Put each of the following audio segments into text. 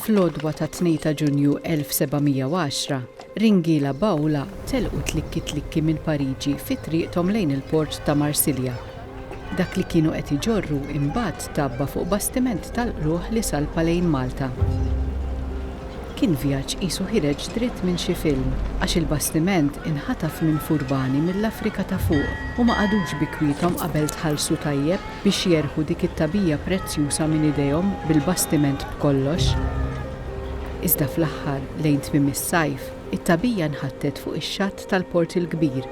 Fl-għodwa ta' 2 ta' Ġunju 1710, ringiela b'għula telqu tlikki-tlikki minn Pariġi fi triqthom lejn il-port ta' Marsilja, Dak li kienu qed iġorru imbagħad tgħabba fuq bastiment tal-qlugħ li salpa lejn Malta. Kien vjaġġ qisu ħireġ dritt minn xi film, għax il-bastiment inħataf minn furbani mill-Afrika ta' Fuq u ma qagħdux bi kwiethom qabel tħallsu tajjeb biex jerħu dik it-tagħbija prezzjuża minn idejhom bil-bastiment b'kollox. Iżda fl-aħħar, lejn tmiem is-sajf, it-tagħbija nħattet fuq ix-xatt tal-Port il-Kbir.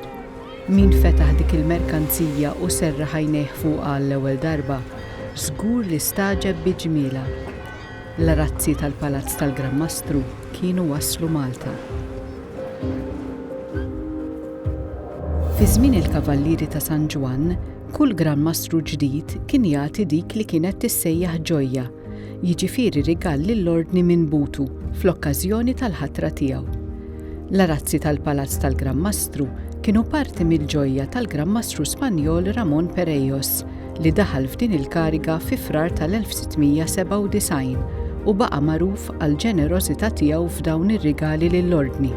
Min fetaħ dik il-merkanzija u serraħ għajnejh fuqha għall-ewwel darba, żgur li stagħġeb bi ġmielha. L-arazzi tal-Palazz tal-Gran Mastru kienu waslu Malta. Fi żmien il-Kavallieri ta' San Ġwann, kull Gran Mastru ġdid kien jagħti dik li kienet tissejjaħ ġojja, jiġifieri rigal lill-Ordni minn Butu fl-okkażjoni tal-ħatra tiegħu. L-arazzi tal-Palazz tal-Gran Mastru kienu parti mill-ġojja tal-Gran Mastru Spanjol Ramon Perejos li daħal f'din il-kariga fi Frar tal-1697 u baqa' magħruf għall-ġenerożità tiegħu f'dawn ir-rigali lill-Ordni.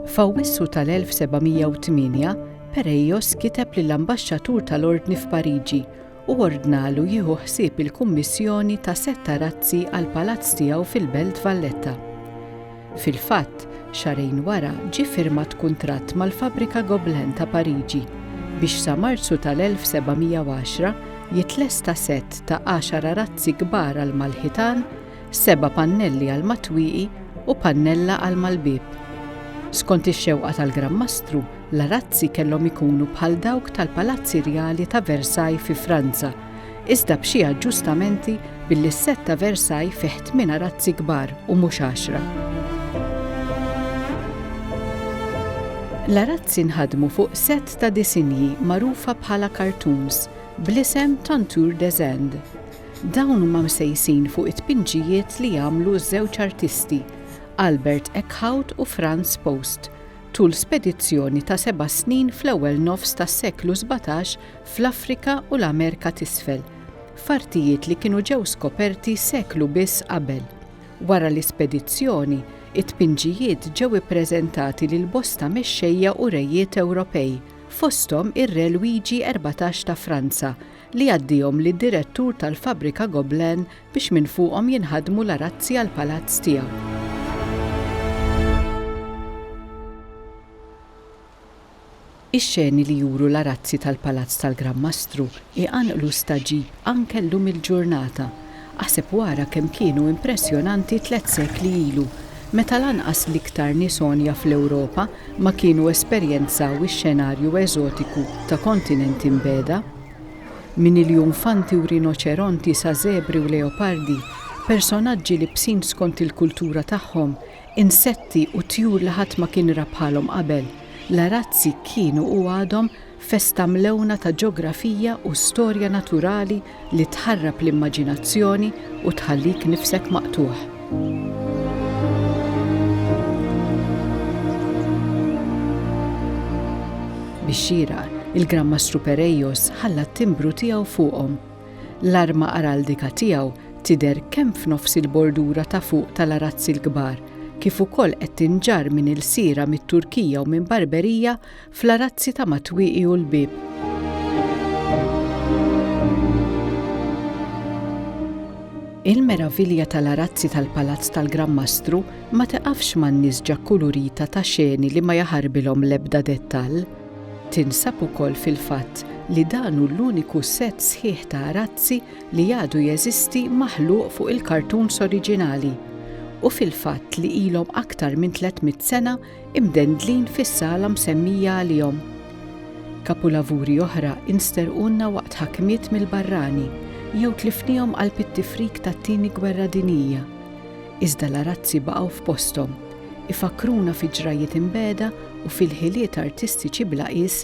F'Awwissu tal-1708, Pereios kiteb lill-ambaxxatur tal-Ordni f'Pariġi u ordnalu jieħu ħsieb il-kummissjoni ta' setta razzi għall-palazz tiegħu fil-Belt Valletta. Fil-fatt, xahrejn wara ġie ffirmat kuntratt mal-fabbrika Gobelin ta' Pariġi biex sa Marzu tal-1710 jitlesta sett ta' għaxar arazzi kbar għall-malħitan seba' pannelli għal matwieqi u pannella għal mal-bieb. Skont ix-xewqa tal-Gran Mastru, l-arazzi kellhom ikunu bħal dawk tal-palazzi rjali ta' Versailles fi Franza, iżda b'xi aġġustamenti billi s-sett ta' Versailles fih tmien arazzi kbar u mhux għaxra. L-arazzi nħadmu fuq sett ta' disinji magħrufa bħala cartoons, bl-isem Tontour des Indes. Dawn huma msejsin fuq it-tpinġijiet li għamlu ż-żewġ artisti, Albert Eckhout u Franz Post, tul spedizzjoni ta' seba' snin fl-ewwel nofs tas-seklu sbatax fl-Afrika u l-Amerka t'Isfel, f'artijiet li kienu ġew skoperti seklu biss qabel. Wara l-ispedizzjoni, it-tpinġijiet ġew ippreżentati lil bosta mexxejja u rejiet Ewropej, fosthom ir-Re Lwigi Erbatax ta' Franza, li jgħaddihom lid-direttur tal-fabbrika Goblen biex minn fuqhom jinħadmu l-arazzi għall-palazz tiegħu. Ix-xeni li juru l-arazzi tal-palazz tal-Gran Mastru jqanqlu stagħġib anke llum il-ġurnata, Aħseb wara kemm kienu impressjonanti tliet sekli ilu, meta lanqas l-iktar nies għonja fl-Ewropa ma kienu esperjenzaw ix-xenarju eżotiku ta' kontinenti mbegħda. Minn iljonfanti u rinoċeronti sa żebri u leopardi, personaġġi libsin skont il-kultura tagħhom, insetti u tjur li ħadd ma kien ra bħalhom qabel, l-arazzi kienu u għadhom Festa mlewna ta' ġografija u storja naturali li tħarrab l-immaġinazzjoni u tħallik nifsek maqtugħ. Bix-xieraq, il-Gran Mastru Pereios ħalla t-timbru tiegħu fuqhom. L-arma araldika tiegħu tidher kemm f'nofs il-bordura ta' fuq tal-arazzi l-kbar kif ukoll qed tinġarr minn ilsiera mit-Turkija u minn Barberija Fl-arazzi ta' Matwieqi u l-Bieb. Il-meravilja tal-arazzi tal-Palazz tal-Gran Mastru ma tiqafx man-nisġa kkulurita ta' xeni li ma jaħarbilhom l-ebda dettall. Tinsab ukoll fil-fatt li dan hu l-uniku sett sħiħ ta' arazzi li għadu jeżisti maħluq fuq il-kartuns oriġinali u fil-fatt li ilhom aktar minn 300 sena imdendlin fis-sala msemmija għalihom. Kapulavuri oħra insterqulna waqt ħakmiet mill-barrani jew tlifnihom qalb it-tifrik tat-Tieni Gwerra Dinjija. Iżda l-arazzi baqgħu f'posthom, ifakkruna fi ġrajjiet imbegħda u fil-ħiliet artistiċi bla qies